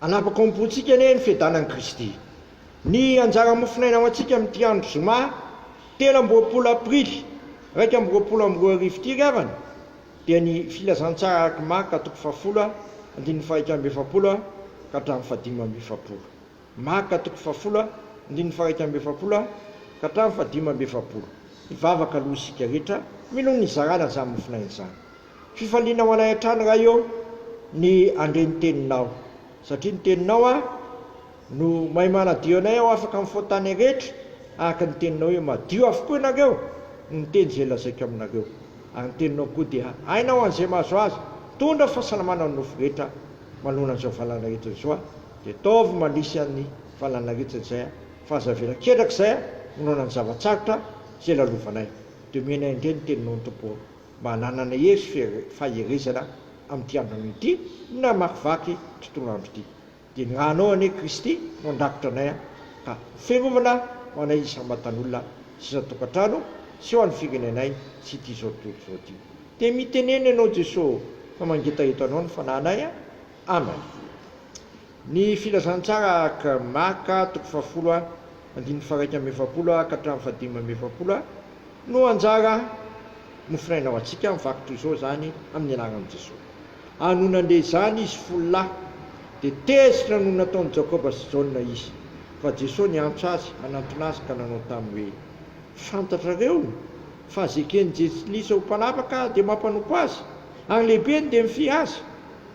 Hanapaka ao am-pontsika anie ny fiadanan'i Kristy. Ny anjara mofonaina ho antsika amin'ity andro zoma telo amby roapolo aprily iraika amby roapolo amby roa arivo ity ry havana dia ny Filazantsara araky Marka toko fahafolo andininy faha-iraika amby efapolo ka hatramin'ny fahadimy amby efapolo. Marka toko fahafolo andininy faha-iraika amby efapolo ka hatramin'ny fahadimy amby efapolo. Hivavaka aloha isika rehetra mino ny nizarana izany mofonaina izany. Fifaliana ho anay hatrany Ray ô ny handre ny teninao satria ny teninao a no mahay manadio anay aho afaka amin'ny faotanay rehetra araka ny teninao hoe madio avokoa ianareo no miteny izay lazaiko aminareo ary ny teninao koa dia aina ho an'izay mahazo azy mitondra fahasalamana ny nofo rehetra manoloana an'izao valan'aretina izao a dia ataovy manisy an'ny valan'aretina izay a fa aza avela ketraka izay a manoloana ny zava-tsarotra izay lalovanay dia omena indray ny teninao ny Tompo ô mba hananana hery sy faherezana amin'ity andronao ity na hamakivaky tontolo andro ity. Dia ny ra anao anie Kristy no andrakotra anay an! ka fiarovana ho anay isam-batan'olona sy isan-tokantrano sy ho an'ny firenenay sy ity izao tontolo izao ity. Dia mitenena ianao Jeso fa mangetaheto anao ny fanahinay an! Amen. Ny Filazantsara ak. Marka, toko fahafolo a, andininy faharaika amby efapolo a ka hatramin'ny fahadimy amby efapolo a, no anjara nofinaina ho antsika, mivaky toy izao izany, amin'ny anaran'i Jesoa. Ary nony nandeha izany izy folo lahy, dia tezitra noho ny nataon'i Jakoba sy Jaona izy. Fa Jesoa niantso azy, hanantona azy ka nanao taminy hoe, Fantatrareo fa zeken'ny Jentilisa ho mpanapaka dia mampanompo azy, ary ny lehibeny dia mifihy azy.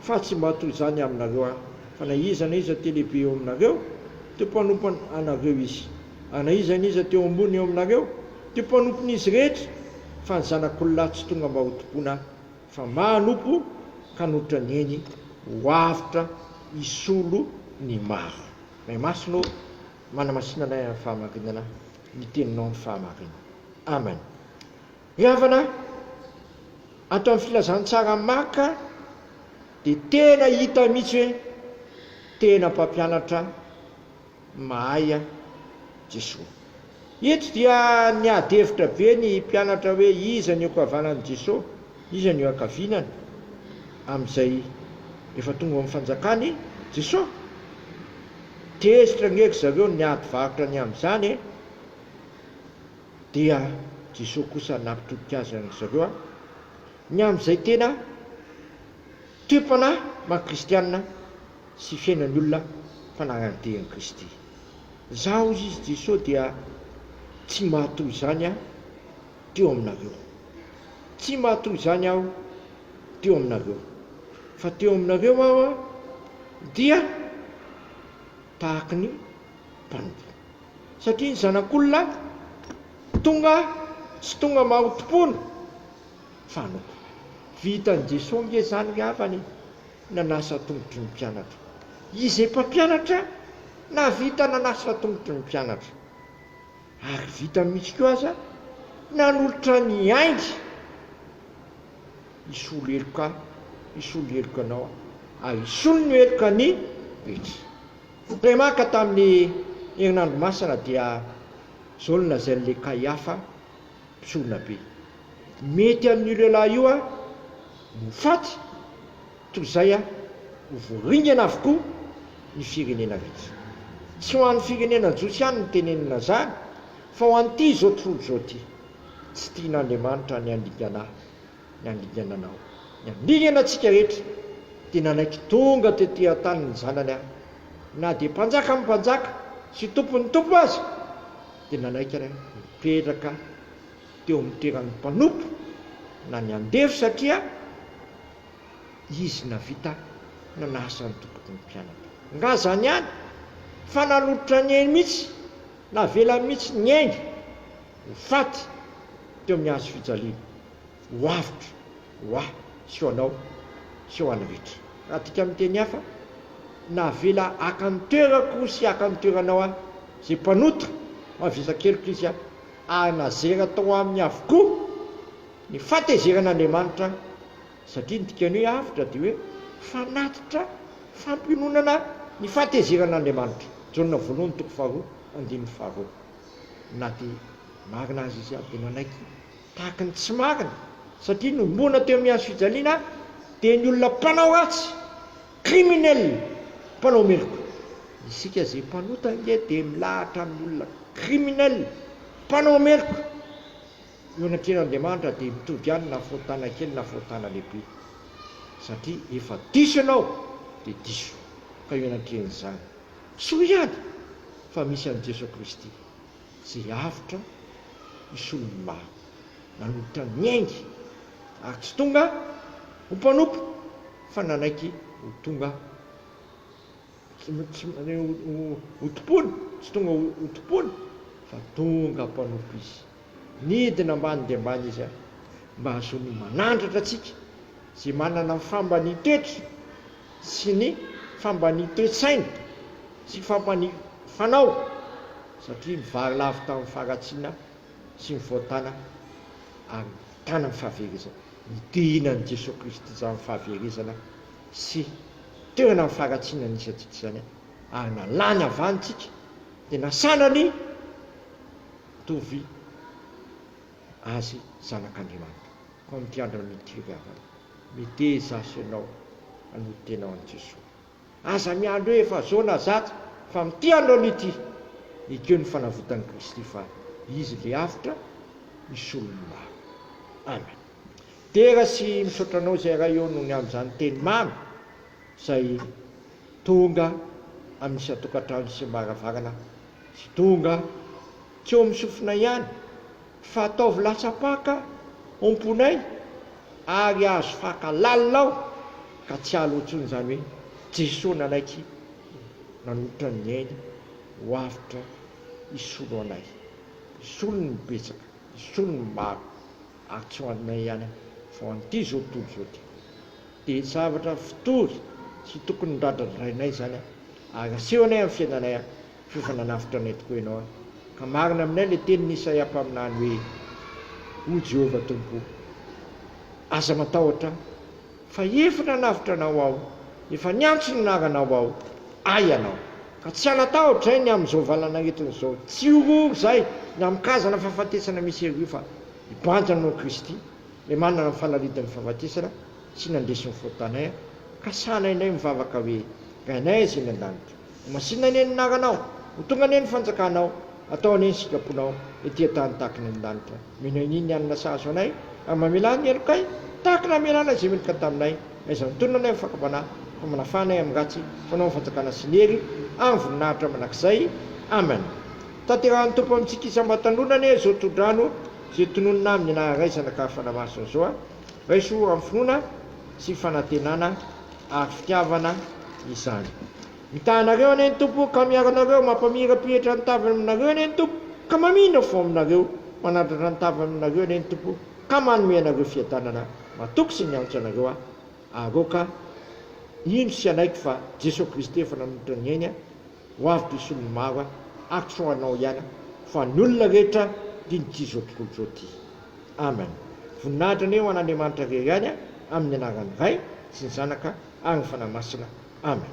Fa tsy mba toy izany aminareo Aho, fa na iza na iza te lehibe eo aminareo, dia mpanompon anareo izy, ary na iza na iza te ho ambony eo aminareo, dia mpanompon izy rehetra, fa ny zanak'olona tsy tonga mba hotompoina, fa mba hanompo, ka nohitra neny ho avotra hisolo ny maro. May masina ô, manamasina anay amin'ny fahamarinana, ny teninao ny fahamarinana. Amen. Ny havana ato amin'ny filazantsara maka dia tena hita mihitsy hoe tena mpampianatra mahay Jesoa. Eto dia niady hevitra be ny mpianatra hoe iza ny eo ankavanan'i Jesoa, iza ny eo ankavinany amin'izay efa tonga ao amin'ny fanjakan'i Jesoa. Tezitra ange ry zareo niady varotra ny amin'izany e! Dia Jesoa kosa nampitodika azy an-dry zareo an! Ny amin'izay tena toe-panahy maha kristianina sy fiainan'ny olona fanagnan-dia an'i Kristy. Izaho, hoy izy, Jesoa, dia tsy mahatoa izany an! teo aminareo. Tsy mahatoa izany aho teo aminareo. Fa teo aminareo aho dia tahaky ny mpanompo. satria ny zanak'olona tonga tsy tonga mahotompona fa noko. Vitan'i Jesoa nge zany ny havany e! nanasa tongotry ny mpianatra. Izy mpampianatra nahavita nanasa tongotry ny mpianatra. Ary vitany mihitsy koa aza nanolotra ny ainy hisolo heloka hisolo heloka anao aho, ary hisolo ny heloka ny rehetra. Remaka tamin'ny herinandro masina dia zaolona izay an'ilay Kaiafa mpisoronabe. Mety amin'io lehilahy io aho no ho faty toy izay aho ho voaringana avokoa ny firenena rehetra. Tsy ho an'ny firenena jiosy ihany no teneniny azany fa ho an'ity izao tontolo izao ity. Tsy tian'Andriamanitra ny handingana ahy ny handingana anao. Ny handingana antsika rehetra, dia nanaiky tonga tety an-tany ny Zanany aho. Na dia Mpanjakan'ny mpanjaka sy Tompon'ny tompo aza, dia nanaiky aho nipetraka teo amin'ny toeran'ny mpanompo na ny andevo satria Izy navita nanasa ny tompoko ny mpianany. Nga izany ihany? Fa nanolotra ny ainy mihitsy, navelany mihitsy niainga. ho faty teo amin'ny hazo fijaliana, ho avotra ho ahy sy ho anao sy ho an'ny rehetra. Raha adika amin'ny teny hafa, Navela haka ny toerako sy haka ny toeranao ahy izay mpanota mavesa keloka izy aho, ary nazera tao aminy avokoa ny fatezeran'Andriamanitra, satria ny dikan'ny hoe avotra dia hoe fanatitra fampiononana ny fatezeran'Andriamanitra, Jaona voalohany toko faharoa andininy faharoa. Na dia marina aza izy dia nanaiky tahaka ny tsy marina satria noroana teo amin'ny hazofijaliana dia ny olona mpanao ratsy, criminel, mpanao meloka. Isika izay mpanota ange dia milahatra amin'ny olona criminel, mpanao meloka, eo anatrehan'Andriamanitra dia mitovy ihany na foa tanana kely na foa tanana lehibe satria efa diso ianao dia diso ka eo anatrehan'izany Soa ihany fa misy an'i Jeso Kristy izay avotra hisolo ny maro nanolotra ny ainy ary tsy tonga ho mpanompo fa nanaiky ho tonga ho tompony, tsy tonga ho tompony fa tonga mpanompo izy. Nidina ambany dia ambany izy ary mba hahazoany manandratra antsika izay manana ny fambanian-toetra sy ny fambanian-toe-tsaina sy fampani-fanao satria nivarilavo tamin'ny faharatsiana sy ny fahotana ary nitana ny fahaverezana. Ny tohina an'i Jesoa Kristy izany fahaverezana sy toerana amin'ny faharatsiana nisy antsika izany ary nalany avy any tsika dia nasanany. Mitovy azy zanak'Andriamanitra. Fa amin'ity andro amin'ity fivavahana, miteza azy ianao hanody tena ho an'i Jesoa. Aza miandry hoe efa zao na zato, fa amin'ity andro amin'ity, ekeo ny fanavotan'i Kristy fa Izy ilay avotra hisolo ny maro. Amen. Midera sy misaotra anao izay Ray ô nony amin'izany teny mamy izay tonga amin'ny isan-tokantrano sy am-baravarana. Tsy tonga tsy eo amin'ny sofinay ihany fa ataovy latsa-paka omponay ary azo faka lalina ao ka tsy alo intsony izany hoe Jesoa nanaiky nanolotra ny ainy ho avotra hisolo anay, hisolo ny betsaka, hisolo ny maro ary tsy ho anay ihany fa ho an'ity zotolo izao ity. Dia tsy zavatra fitory sy tokony ho dradradrainay izany ary asehonay amin'ny fiainanay f'efa nanavotra anay tokoa Ianao ka marina aminay ilay tenin'i Isaia mpaminany hoe, O Jehovah Tompo, aza matahotra aho, fa efa nanavotra Anao aho, efa niantso ny anaranao aho, Ahy Ianao. Ka tsy hanatahotra izay ny amin'izao valan'aretina izao, tsy horohoro izay ny amin'ny karazana fahafatesana misy ery io fa hibanjina noho Kristy. Ilay manana ny fanalidin'ny fahafatesana sy nandresy ny faux tanin ka sahanay indray mivavaka hoe, Ry Anay izay any an-danitra, ho masinina anie ny anaranao, ho tonga anie ny fanjakanao, atao anie ny sitraponao ety an-tany tahaka ny any an-danitra, mino an'i ny hanina sahazo anay, ary mamelà ny helokay tahaka ny hamelàna izay meloka taminay, aiza mitonona anay amin'ny fakam-panahy, fa manafà anay amin'ny ratsy, fanao ny fanjakana sy ny hery amin'ny voninahitra mandrakizay. Amen. Tanterahin'ny Tompo amintsika isam-batan'olona anie izao tsodrano Ze tononina aminy na raisana ka fanamasina zao a raiso am finoana sy fanantenana ary fitiavana izany mitaha anareo anie ny Tompo ka miaro anareo mampamirapiratra ny tavany aminareo anie ny Tompo ka mamindra fo aminareo manandratra ny tavany aminareo anie ny Tompo ka manome anareo fiadanana matoky sy miantso anareo a aroka hino sy hanaiky fa Jesoa Kristy efa nanolotra ny ainy Ho avy be solon'ny maro an! Ax ho anao ihany an! Fa ny olona rehetra dia ny tia zao tontolo zao ty! Amen! Voninahitra anie ho an'Andriamanitra irery ihany an! Amin'ny anaran'ny Ray sy ny Zanaka ary ny Fanahy Masina! Amen!